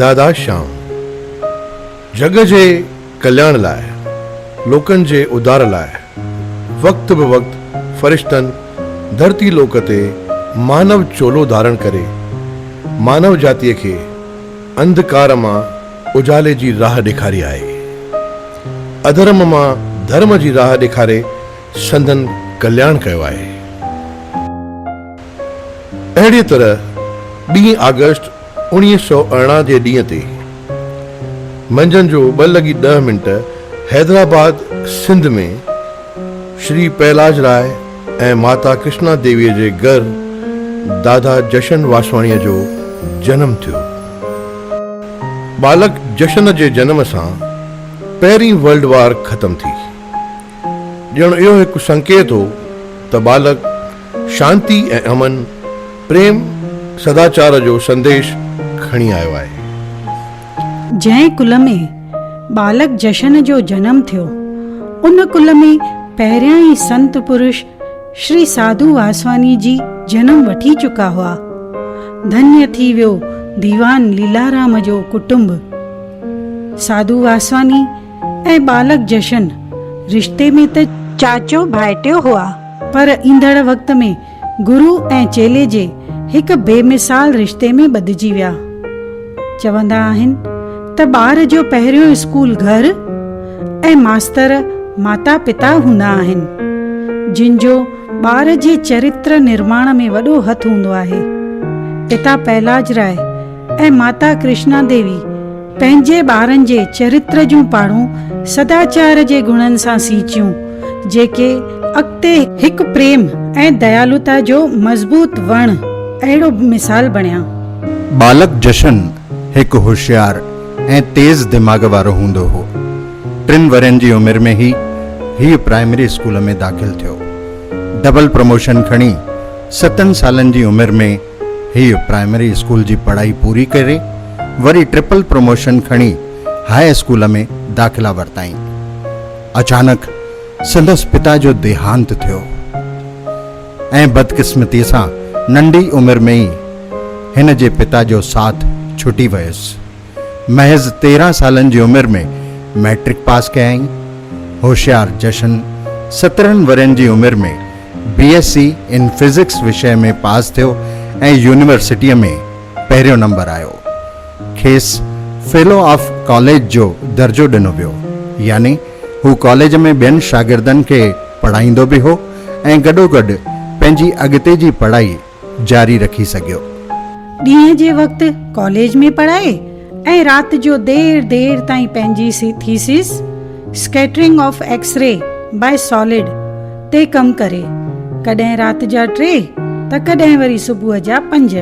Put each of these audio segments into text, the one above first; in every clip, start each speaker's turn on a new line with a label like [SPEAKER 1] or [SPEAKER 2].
[SPEAKER 1] دادا شام جڳ جي ڪلياڻ لاء، لوڪن جي اڌار لاء، وقت به وقت فرشتن ڌرتي لوڪ تي مانو چولو ڌارڻ ڪري، مانو جاتيء کي انڌڪار مان اجالي جي راهه ڏيکاري آهي. اڌرم مان ڌرم جي راهه ڏيکاري سندن ڪلياڻ ڪيو آهي. اهڙيء طرح ٻين آگسٽ اوڻيهه سؤ ارڙهن جي ڏينهن تي منجهند جو ٻه لڳي ڏهه منٽ حيدرآباد سنڌ ۾ شري پهلاج راء ۽ ماتا ڪرشنا ديويء جي گهر دادا جشن واسواڻيء جو جنم ٿيو. ٻالڪ جشن جي جنم سان پهرين ورلڊ وار ختم ٿي. ڄڻ اهو هڪ سنڪيت هو ته ٻالڪ شانتي ۽ امن، پريم، سداچار جو سنديش کڻي آيو آهي.
[SPEAKER 2] جنهن ڪل ۾ ٻالڪ جشن جو جنم ٿيو، ان ڪل ۾ پهريان ئي سنت پرش شري ساڌو واسواني جي جنم وٺي چڪا هئا. ڌنيء ٿي ويو ديوان ليلارام جو ڪٽنب. ساڌو واسواني ۽ ٻالڪ جشن، رشتي ۾ ته چاچو ڀائٽيو هئا، پر ايندڙ وقت ۾ گرو ۽ چيلي جي هڪ بي مثال رشتي ۾ ٻڌجي ويا. چوندا آهن ته ٻار جو پهريون اسڪول گهر ۽ ماستر ماتا پتا هوندا آهن، جن جو ٻار جي چرتر نرماڻ ۾ وڏو هٿ هوندو آهي. پتا پهلاج راء ۽ ماتا ڪرشنا ديوي پنهنجي ٻارن جي چريتر جون پاڙون سداچار جي گڻن سان سينچيون، جيڪي اڳتي هڪ پريم ۽ ديالوتا جو مضبوط وڻ اهڙو مثال بڻيا. ٻالڪ
[SPEAKER 3] جشن هڪ هوشيار ۽ تيز دماغ وارو هوندو هو. ٽن ورهين جي عمر ۾ ئي هيء پرائمري اسڪول ۾ داخل ٿيو. ڊبل پروموشن کڻي ستن سالن جي عمر ۾، هيء پرائمري اسڪول جي پڙهائي پوري ڪري وري ٽرپل پروموشن کڻي هاء اسڪول ۾ داخلا ورتائين. اچانڪ سندس پتا جو ديهانت ٿيو ۽ بدقسمتيء سان ننڍي عمر ۾ ئي هن جي پتا جو ساٿ ڇٽي ويس. محض تيرهن سالن جي عمر ۾ مئٽرڪ پاس ڪيائين. هوشيار جشن سترهن ورهين جي عمر ۾ B S C in physics وشيه ۾ پاس ٿيو ۽ يونيورسٽيء ۾ پهريون نمبر آيو. کيس فيلو آف ڪاليج جو درجو ڏنو ويو، يعني هو ڪاليج ۾ ٻين شاگردن کي پڙهائيندو به هو ۽ گڏوگڏ پنهنجي اڳتي جي پڙهائي جاري رکي سگهيو. ڏينهن جي
[SPEAKER 2] وقت ڪاليج ۾ پڙهائي ۽ رات جو دير دير تائين پنهنجي thesis, Scattering of X-ray by Solid، تي ڪم ڪري، ڪڏهن رات جا ٽي ته ڪڏهن وري صبح جا پنج.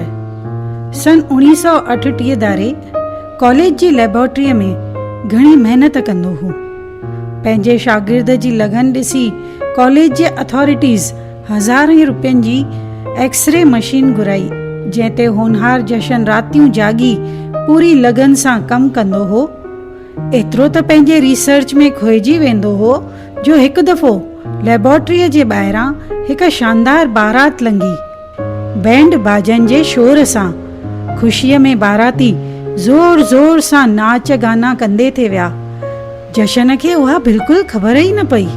[SPEAKER 2] سن اوڻيهه سؤ اٺٽيهه ڌاري ڪاليج جي ليبارٽريء ۾ گهڻي محنت ڪندو هو. پنهنجي شاگرد جي لگن ڏسي ڪاليج جي اٿارٽيز، هزارين روپين جي ايڪس ري مشين گهرائي، جنهن تي هونهار جشن راتيون جاڳي پوري لگن سان ڪم ڪندو هو. ايترو ته پنهنجي ريسرچ ۾ کوهجي ويندو هو جو هڪ دفعو ليبارٽريء جي ٻاهران هڪ شاندار بارات لنگهي. بينڊ باجن جي شور سان خوشيء ۾ باراتي زور زور سان ناچ گانا ڪندي ٿي ويا. جشن کي اها بلڪل خبر ئي نه پئي.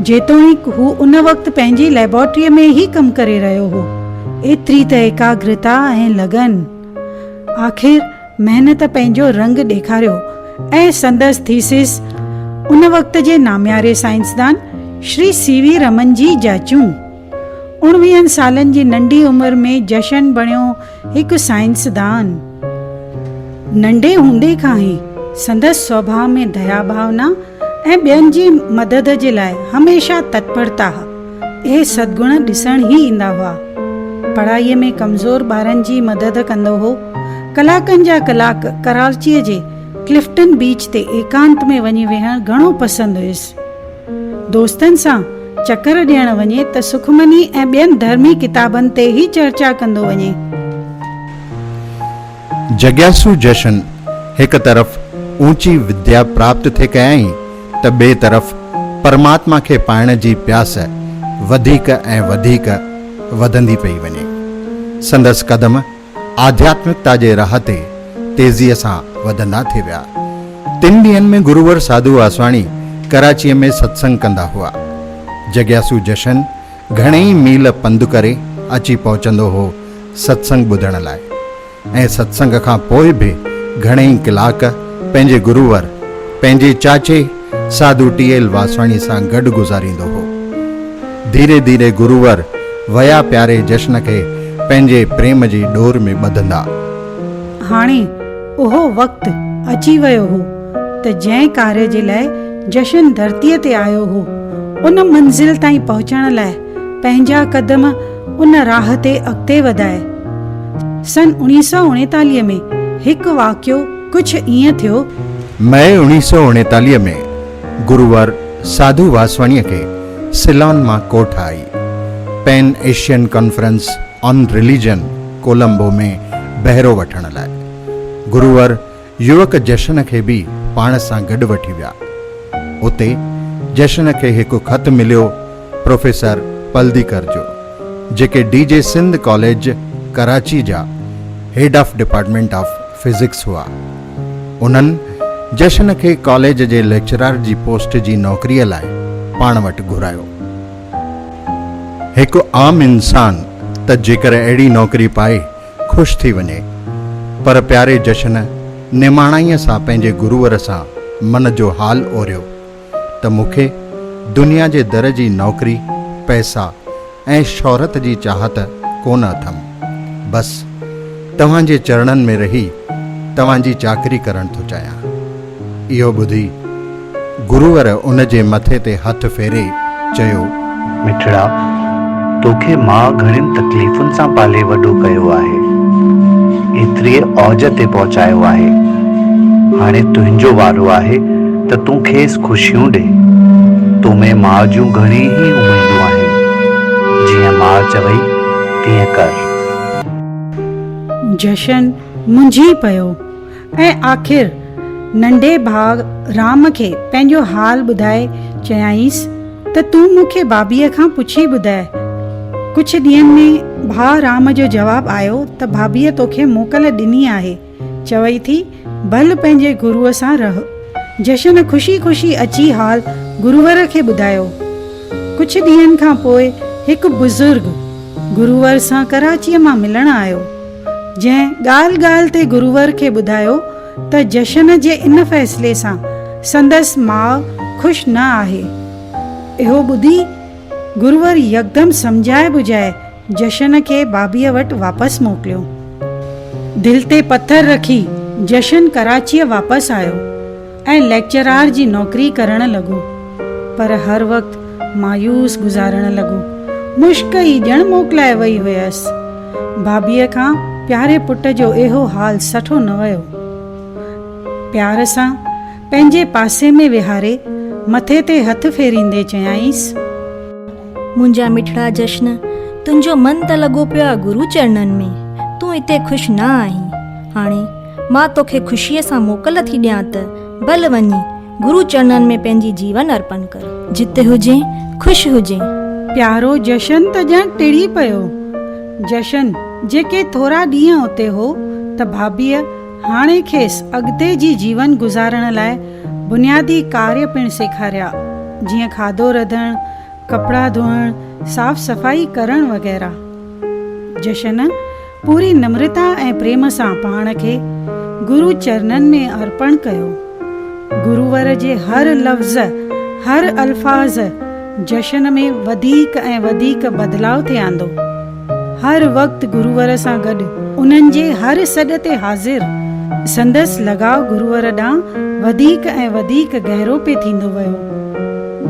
[SPEAKER 2] جيتوڻيڪ هو ان وقت پنهنجي ليبارٽريء ۾ ئي ڪم ڪري رهيو هو. ايتري ته ايڪاگرتا ۽ لگن آخر محنت پنهنجو رنگ ڏيکاريو ۽ سندس ٿيسز ان وقت جي نامياري سائنسدان شري سي وي رمن جي جاچون اڻويهن سالن جي ننڍي عمر ۾ جشن بڻيو هڪ سائنسدان ننڍي هوندي کان ئي سندس سوڀاء ۾ ديا ڀاونا ۽ ٻين جي مدد جي لاء هميشه تتپرتا ها. اهي سدگڻ ڏسڻ ئي ايندا هئا. پڙهائيء ۾ ڪمزور ٻارن جي مدد ڪندو هو. ڪلاڪن جا ڪلاڪ ڪراچيء جي ڪلفٽن بيچ تي ايڪانت ۾ وڃي ويهڻ گهڻو پسند هيس. دوستن سان چڪر ڏيڻ وڃي ته سخمني ۽ ٻين ڌرمي ڪتابن تي ئي چرچا ڪندو وڃي.
[SPEAKER 3] جڳياسو جشن هڪ طرف اوچي وديا پراپت ٿي ڪيائين ته ٻئي طرف پرماتما کي پائڻ جي پياس وڌيڪ ۽ وڌيڪ وڌندي پئي وڃي. سندس قدم آڌياتمڪتا جي راهه تي تيزيء سان وڌندا ٿي ويا. تن ڏينهن ۾ گرور ساڌو آسواڻي ڪراچيء ۾ ستسنگ ڪندا هئا. جڳياسو جشن گهڻي ئي ميل پنڌ ڪري اچي پهچندو هو ستسنگ ٻڌڻ لاء ۽ ستسنگ کان پوء به گهڻي ئي ڪلاڪ پنهنجي گرور پنهنجي چاچي ساڌو ٽيئل واسواڻي سان گڏ گذاريندو هو. ڌيري ڌيري گروور ويا پياري جشن کي پنهنجي پريم جي ڏور ۾ ٻڌندا. هاڻي
[SPEAKER 2] اهو وقت اچي ويو هو ته جنهن ڪاري جي لاء جشن ڌرتيء تي آيو هو، ان منزل تائين پهچڻ لاء پنهنجا قدم ان راهه تي اڳتي وڌائي. سن اوڻيهه سؤ اڻيتاليهه ۾ هڪ واقعو ڪجهه ائين ٿيو. مئي اوڻيهه
[SPEAKER 3] سؤ اڻيتاليهه ۾ گروور ساڌو واسواڻيء کي سيلان مان ڪوٺ آئي. Pan Asian conference on religion Colombo ۾ بهرو وٺڻ لاء. گروور يوڪ جشن کي به پاڻ سان گڏ وٺي ويا. اتي جشن کي هڪ خط مليو. پروفيسر پلديڪر جو جيڪي D J Sindh college Karachi جا head of department of physics هئا انهن جشن کي ڪاليج جي ليڪچرار جي پوسٽ جي نوڪري لاء پاڻ وٽ گهرايو هڪ عام انسان ته جيڪر اهڙي نوڪري پائي خوش ٿي وڃي پر پياري جشن نماڻائيء سان پنهنجي گرور سان من جو حال اوريو. ته مون کي دنيا جي در جي نوڪري، پئسا ۽ شهرت جي چاهت ڪونه اٿم. بس توهان جي چرڻن ۾ رهي توهان جي چاڪري ڪرڻ ٿو چاهيان. اهو ٻڌي گرور ان جي مٿي تي هٿ ڦيري چيو. مٺڙا!
[SPEAKER 4] توکي ماء گهڻين تڪليفن سان پالي وڏو ڪيو آهي. ايتريء اوج تي پهچايو آهي. هاڻي تنهنجو وارو آهي ته تون کيس خوشيون ڏي. تو ۾ ماء جون گهڻي ئي اميدون آهن. جيئن ماء چوئي تيئن ڪر.
[SPEAKER 2] جشن منجهي پيو. ۽ آخر ننڍي ڀاء رام کي پنهنجو حال ٻڌائي چيائينس ته تون مون کي ڀاڀيء کان پڇي ٻڌاء. ڪجهه ڏينهن ۾ ڀاء رام جو جواب آيو ته ڀاڀيء توکي موڪل ڏني آهي، چوي ٿي ڀل پنهنجي گروء سان رهه. جشن خوشي خوشي اچي حال گرور کي ٻڌايو. ڪجهه ڏينهن کان پوء هڪ بزرگ گرور سان ڪراچيء مان ملڻ آيو. جنهن ڳالهه ڳالهه تي گرور کي ٻڌايو ته جشن جي ان فيصلي سان سندس ماء خوش نه آهي. اهو ٻڌي گرور يڪدم سمجهائي ٻجهائي جشن کي بابيء وٽ واپس موڪليو. دل تي پٿر رکي جشن ڪراچيء واپس آيو. ۽ ليڪچرار جي نوڪري ڪرڻ لڳو، پر هر وقت مايوس گذارڻ لڳو. مشڪ ئي ڄڻ موڪلائي وئي هيس. بابيء کان پياري پٽ جو اهو حال سٺو نه ويو. پيار سان پنهنجي پاسي ۾ ويهاري مٿي تي هٿ ڦيريندي چيائينس.
[SPEAKER 5] منهنجا مٺڙا جشن، تنهنجو من ته لڳو پيو آ گرو چرڻن ۾، تون اتي خوش نه آهين. هاڻي. مان توکي خوشيء سان موڪل ٿي ڏيان ته ڀل وڃي گرو چرنن ۾ پنهنجي جيون ارپڻ ڪر. جت هجين، خوش هجين. پيارو
[SPEAKER 2] جشن ته ڄڻ ٽڙي پيو. جشن، جيڪي ٿورا ڏينهن اتي هو ته ڀاڀيء هاڻي کيس اڳتي جي جيون گذارڻ لاء بنيادي ڪاريه پڻ سيکاريا، جيئن کاڌو رڌڻ، ڪپڙا ڌوئڻ، صاف صفائي ڪرڻ وغيره. جشن. پوري نمرتا ۽ پريم سان پاڻ کي گرو چرنن ۾ ارپڻ ڪيو. گرور جي هر لفظ، هر الفاظ جشن ۾ وڌيڪ ۽ وڌيڪ بدلاء ٿي آندو. هر وقت گرور سان گڏ، انهن جي هر سڏ تي حاضر، سندس لڳاء گرور ڏانهن وڌيڪ ۽ وڌيڪ گهرو پئي ٿيندو ويو.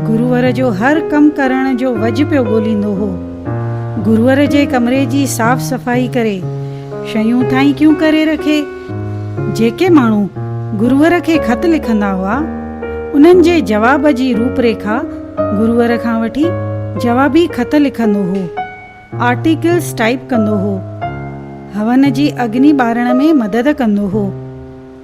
[SPEAKER 2] گرور جو هر ڪم ڪرڻ جو وجهه پيو ڳوليندو هو. گرور جي ڪمري جي صاف صفائي ڪري شيون ٿائين ڪيون ڪري رکي. جيڪي ماڻهو گرور کي خط لکندا هئا انهن جي جواب جي روپ ريکا گرور کان وٺي جوابي خط لکندو هو، آرٽيڪلز ٽائيپ ڪندو هو، هون جي اگني ٻارڻ ۾ مدد ڪندو هو.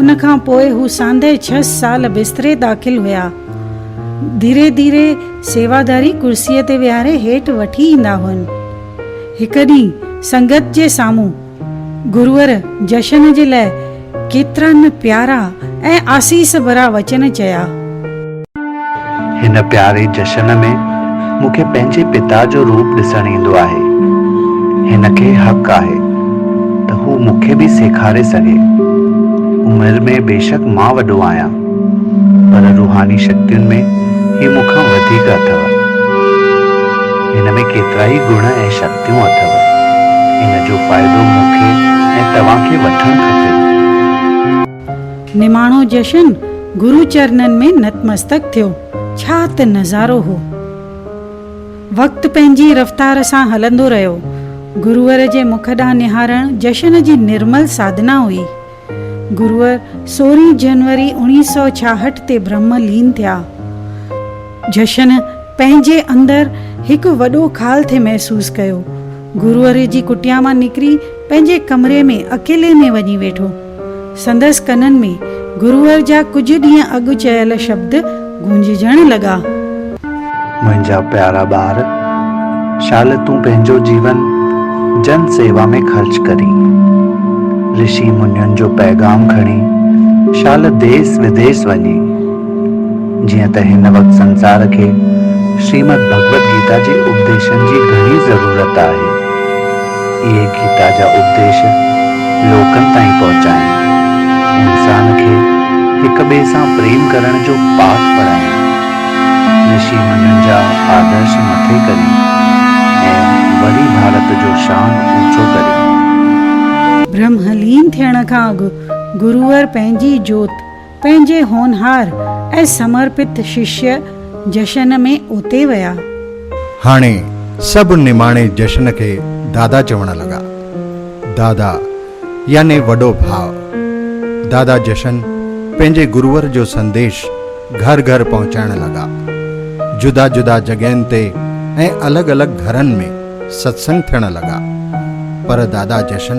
[SPEAKER 2] ان کان پوء هو ساندهه ڇهه سال بستري داخل هيا. ڌيري ڌيري سيواداري ڪرسيء تي ويهاري هيٺ وٺي ايندا هئن. هڪ ڏينهن سنگت جي سامهون گرور جشن جي لاء ڪيترا نه پيارا ۽ آسيس ڀرا وچن چيا.
[SPEAKER 4] هن پياري جشن ۾ مون کي پنهنجي پتا جو روپ ڏسڻ ايندو آهي. هن کي حق آهي ته هو مون کي به سيکاري سگهي. عمر ۾ بيشڪ مان وڏو آهيان، پر روحاني شڪتين ۾ هي مون کان وڌيڪ اٿو. هن ۾ ڪيترائي گڻ ۽ شڪتيون اٿو. ان جو فائدو مون کي ۽ توهان کي وٺڻ کپي. نماڻو
[SPEAKER 2] جشن گرو چرنن ۾ نتمستڪ ٿيو. ڇا ته نظارو هو. وقت پنهنجي رفتار سان هلندو رهيو. گروور جي مک ڏانهن نهارڻ جشن جي نرمل ساڌنا هئي. گروور سورهين جنوري اوڻيهه سؤ ڇاهٺ تي برهم لين ٿيا. جشن پنهنجي اندر هڪ وڏو خال ٿي محسوس ڪيو. گروور جي ڪٽيا مان نڪري پنهنجي ڪمري ۾ اڪيلي ۾ وڃي ويٺو. سندس ڪنن ۾ گروهر جا ڪجهه ڏينهن اڳ چيل شبد گونججڻ لڳا.
[SPEAKER 4] منهنجا پيارا ٻار! شال تون پنهنجو جيون جن سيوا ۾ خرچ ڪرين. رشي منين جو پيغام کڻي شال ديس وديس وڃي. جيئن ته هن وقت سنسار کي شريمد ڀڳوت گيتا جي اپديشن جي گهڻي ضرورت آهي. اهي گيتا جا اپديش لوڪن تائين پهچائين، انسان کي هڪ ٻئي سان پريم ڪرڻ جو پاٺ پڙهائين، رشي منين جا آدرش مٿي ڪرين ۽ وري ڀارت جو شان اوچو ڪرين. برهملين
[SPEAKER 2] ٿيڻ کان اڳ گرور پنهنجي جوت پنهنجي هونهار ۽ سمرپت ششيه جشن ۾ اوتي ويا. هاڻي
[SPEAKER 3] سڀ نماڻي جشن کي دادا چوڻ لڳا. دادا يعني وڏو ڀاء. دادا جشن پنهنجي گرور جو سنديش گهر گهر پهچائڻ لڳا. جدا جدا جڳهين تي ۽ الڳ الڳ گهرن ۾ ستسنگ ٿيڻ لڳا. پر دادا جشن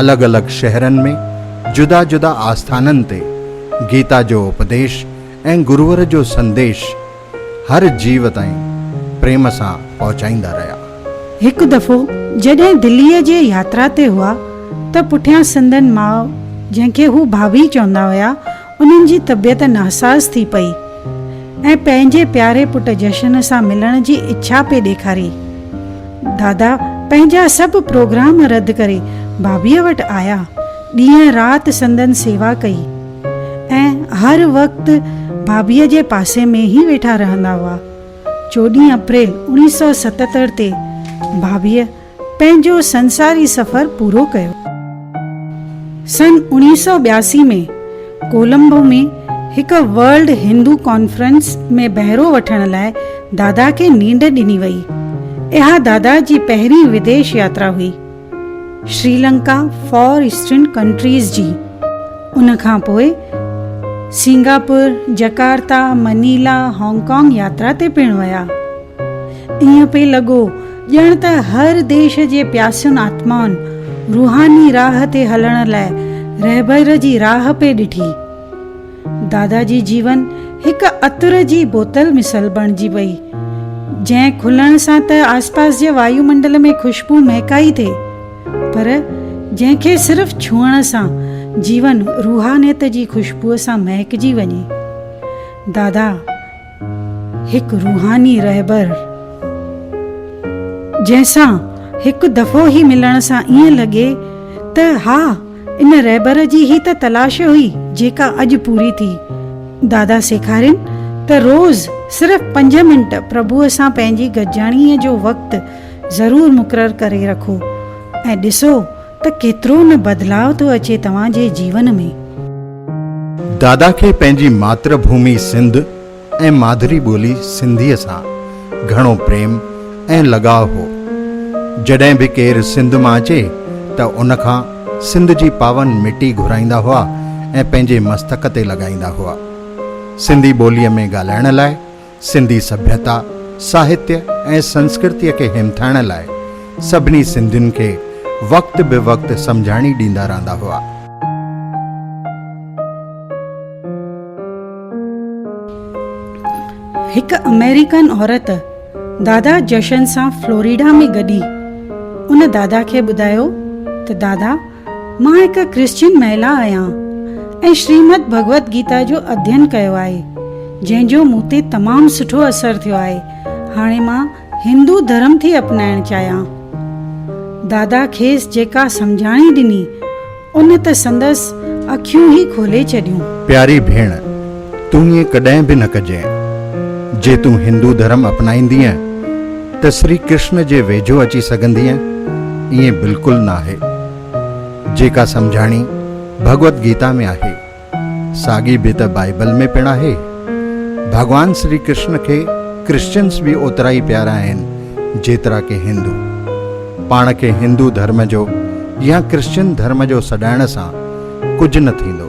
[SPEAKER 3] الڳ الڳ شهرن ۾ جدا جدا آسٿانن تي گيتا جو اپديش ۽ گرور جو سنديش هر جيو تائين پريم سان پهچائيندا رهيا. هڪ دفعو
[SPEAKER 2] جڏهن دليء جي ياترا تي هئا ته پٺيان سندن ماء جنهن کي هو ڀاڀي چوندا هيا انهن جي طبيعت ناساز ٿي پئي ۽ پنهنجي پياري پٽ جشن سان ملڻ جي اڇا پئي ڏيکاري. دادا پنهنجا سڀ پروگرام رد ڪري بابيء وٽ آيا. ڏينهن رات سندن سيوا ڪئي ۽ هر وقت بابيء جي پاسي ۾ ئي ويٺا رهندا هئا. چوڏهين اپريل اوڻيهه سؤ ستهتر تي بابيء پنهنجو سنساري سفر پورو ڪيو. سن اوڻيهه سؤ ٻياسي ۾ ڪولمبو ۾ هڪ ورلڊ هندو ڪانفرنس ۾ بهرو وٺڻ لاء دادا کي نينڊ ڏني وئي. اها دادا جي پهرين وديش ياترا هئي. شريلنڪا، فار ايسٽرن ڪنٽريز جي. ان کان پوء Singapore, Jakarta, Manila, Hong Kong ياترا تي پڻ ويا. ائين پئي لڳو ڄڻ ته هر ديش جي پياسين آتمائن روحاني راهه تي هلڻ لاء رهبر جي راهه پئي ڏٺي. دادا جي جيون هڪ عطر جي بوتل مثل بڻجي پئي، جنهن کلڻ سان ته آسپاس جي وايو منڊل ۾ خوشبو مهڪائي ٿي، پر جنهن کي صرف ڇهڻ سان جيون روحانيت جي خوشبوء سان مهڪجي وڃي. دادا! هڪ روحاني رهبر جنهن سان هڪ دفعو هي ملڻ سان ائين لڳي ته ها ان رهبر جي هي ته تلاش هئي جيڪا اڄ پوري ٿي. دادا سيکارين ته روز صرف پنج منٽ پرڀوء سان پنهنجي گڏجاڻيء جو وقت ضرور مقرر ڪري رکو ۽ ڏسو ته ڪيترو نه بدلاء ٿو اچي توهان جي جيون ۾.
[SPEAKER 3] دادا کي پنهنجي ماتر ڀومي سنڌ ۽ مادري ٻولي سنڌيء سان گهڻو پريم ۽ لڳاء هو. جڏهن به ڪير سنڌ مان اچي ته ان کان سنڌ جي پاون مٽي گهرائيندا هئا ۽ پنهنجي مستڪ تي لڳائيندا هئا. سنڌي ٻوليء ۾ ڳالهائڻ لاء سنڌي سڀيتا، ساهتيه ۽ سنسڪرتيء کي همٿائڻ لاء سڀني سنڌين کي وقت به وقت سمجهاڻي ڏيندا رهندا هئا.
[SPEAKER 2] هڪ آمريڪن عورت دادا جشن سان فلوريڊا ۾ گڏي. ان دادا کي ٻڌايو ته دادا! مان هڪ ڪرسچين مهلا آهيان ۽ شريمد ڀڳوت گيتا جو اڌين ڪيو آهي، جنهن جو مون تي تمام سٺو اثر ٿيو آهي. هاڻي مان هندو ڌرم ٿي اپنائڻ چاهيان. دادا کيس جيڪا سمجهاڻي ڏني، ان ته سندس اکيون ئي کولي ڇڏيون. پياري ڀيڻ!
[SPEAKER 3] تون ائين ڪڏهن به نه ڪجين. جي تون هندو ڌرم اپنائيندينء ته سري ڪرشن جي ويجهو اچي سگهندينء؟ ائين بلڪل ناهي. جيڪا سمجهاڻي ڀڳوت گيتا ۾ آهي، ساڳي به ته بائيبل ۾ پڻ آهي. ڀڳوان سري ڪرشن کي ڪرسچنس به اوترا ئي پيارا آهن جيترا ڪي هندو. پاڻ کي هندو ڌرم جو يا ڪرسچن ڌرم جو سڏائڻ سان ڪجهه نه ٿيندو.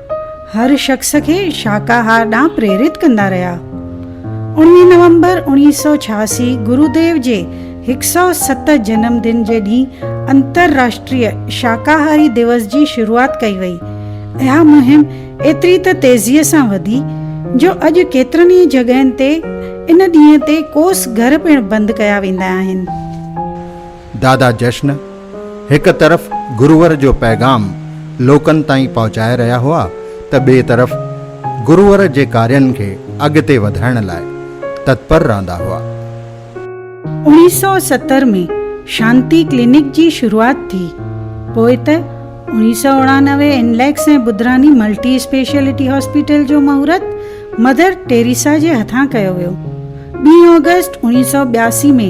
[SPEAKER 2] هر شخص کي شاڪاهار ڏانهن پريرت ڪندا رهيا. اڻويهه نومبر اوڻيهه سؤ ڇهاسي گروديو جي هڪ سؤ ست جنم دن جي ڏينهن انترراشٽريه شاڪاهاري ديوس جي شروعات ڪئي وئي. اها مهم ايتري ته تيزيء سان وڌي جو اڄ ڪيترن ئي جڳهين تي ان ڏينهن تي ڪوس گهر پڻ بند ڪيا ويندا آهن. دادا جشن
[SPEAKER 3] هڪ طرف گرور جو پيغام لوڪن تائين پهچائي رهيا هئا ته ٻئي طرف گرور جي ڪارين کي اڳتي وڌائڻ لاء تتپر رهندا هئا. اوڻيهه سؤ
[SPEAKER 2] ستر ۾ شانتي ڪلينڪ جي شروعات ٿي، پوء ته اوڻيهه سؤ اڻانوي انليڪس ۽ ٻڌراني ملٽي اسپيشلٽي هاسپيٽل جو مهورت مدر ٽيريسا جي هٿان ڪيو ويو. ٻي آگسٽ اوڻيهه سؤ ٻياسي ۾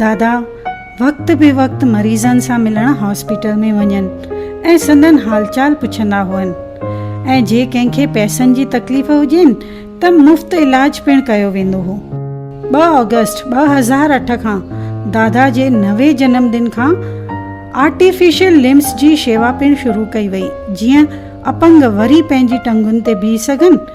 [SPEAKER 2] دادا وقت بي وقت مريضن سان ملڻ هاسپيٽل ۾ وڃن ۽ سندن حال چال پڇندا هئن ۽ جي ڪنهن کي پئسن جي تڪليف هجين ته مفت علاج پڻ ڪيو ويندو هو. ٻه آگسٽ ٻه هزار اٺ کان دادا جي نوي جنم ڏن کان آرٽيفيشل لمبس جي شيوا پڻ شروع ڪئي وئي جيئن اپنگ وري پنهنجي ٽنگن تي بيهي سگهن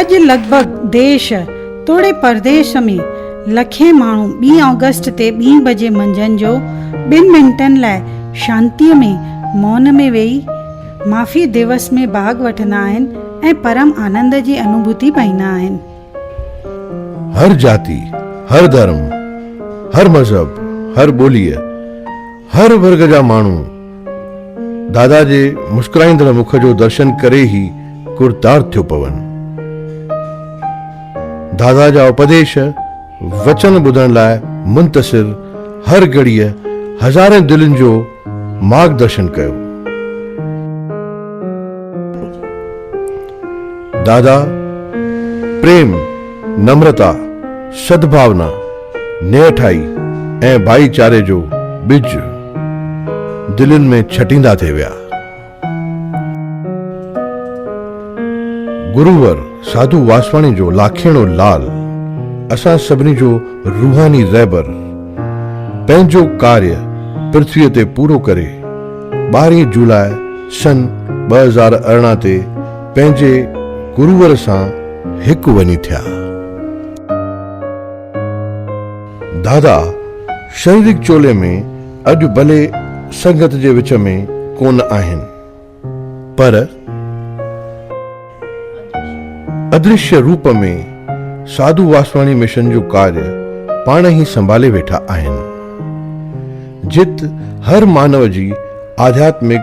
[SPEAKER 6] اڄ لڳ
[SPEAKER 2] ڀڳ ديش توڙي پرديش ۾ لکين ماڻهو ٻي آگسٽ تي ٻين بجي منجهند جو ٻن منٽن لاء شانتيء ۾ مون ۾ ويهي معافي ديوس ۾ ڀاڳ وٺندا آهن ۽ پرم آنند جي انوڀوتي پائيندا آهن.
[SPEAKER 1] هر جاتي، هر ڌرم، هر مذهب، هر ٻوليء، هر ورگ جا ماڻهو دادا جي مسڪرائيندڙ مک جو درشن ڪري ئي ڪرتار ٿيو پون. دادا جا اپديش، وچن ٻڌڻ لاء منتظر هر گهڙيء هزارين دلين جو مارگ درشن ڪيو. دادا پريم، نمرتا، سدڀاونا، نيٺائي ۽ ڀائيچاري جو ٻج دلين ۾ ڇٽيندا ٿي ويا. گروور ساڌو واسواڻي جو لاکيڻو لال اسان سڀني جو روحاني رهبر پنهنجو ڪاريه پرٿويء تي پورو ڪري ٻارهين جولاء سن ٻه هزار ارڙهن تي پنهنجي گروور سان هڪ وڃي ٿيا. دادا شريڪ چولي ۾ اڄ ڀلي سنگت جي وچ ۾ ڪونه آهن پر ادرشيه روپ ۾ ساڌو واسواڻي مشن جو ڪارج پاڻ ئي سنڀالي ويٺا آهن جت هر مانو جي آڌياتمڪ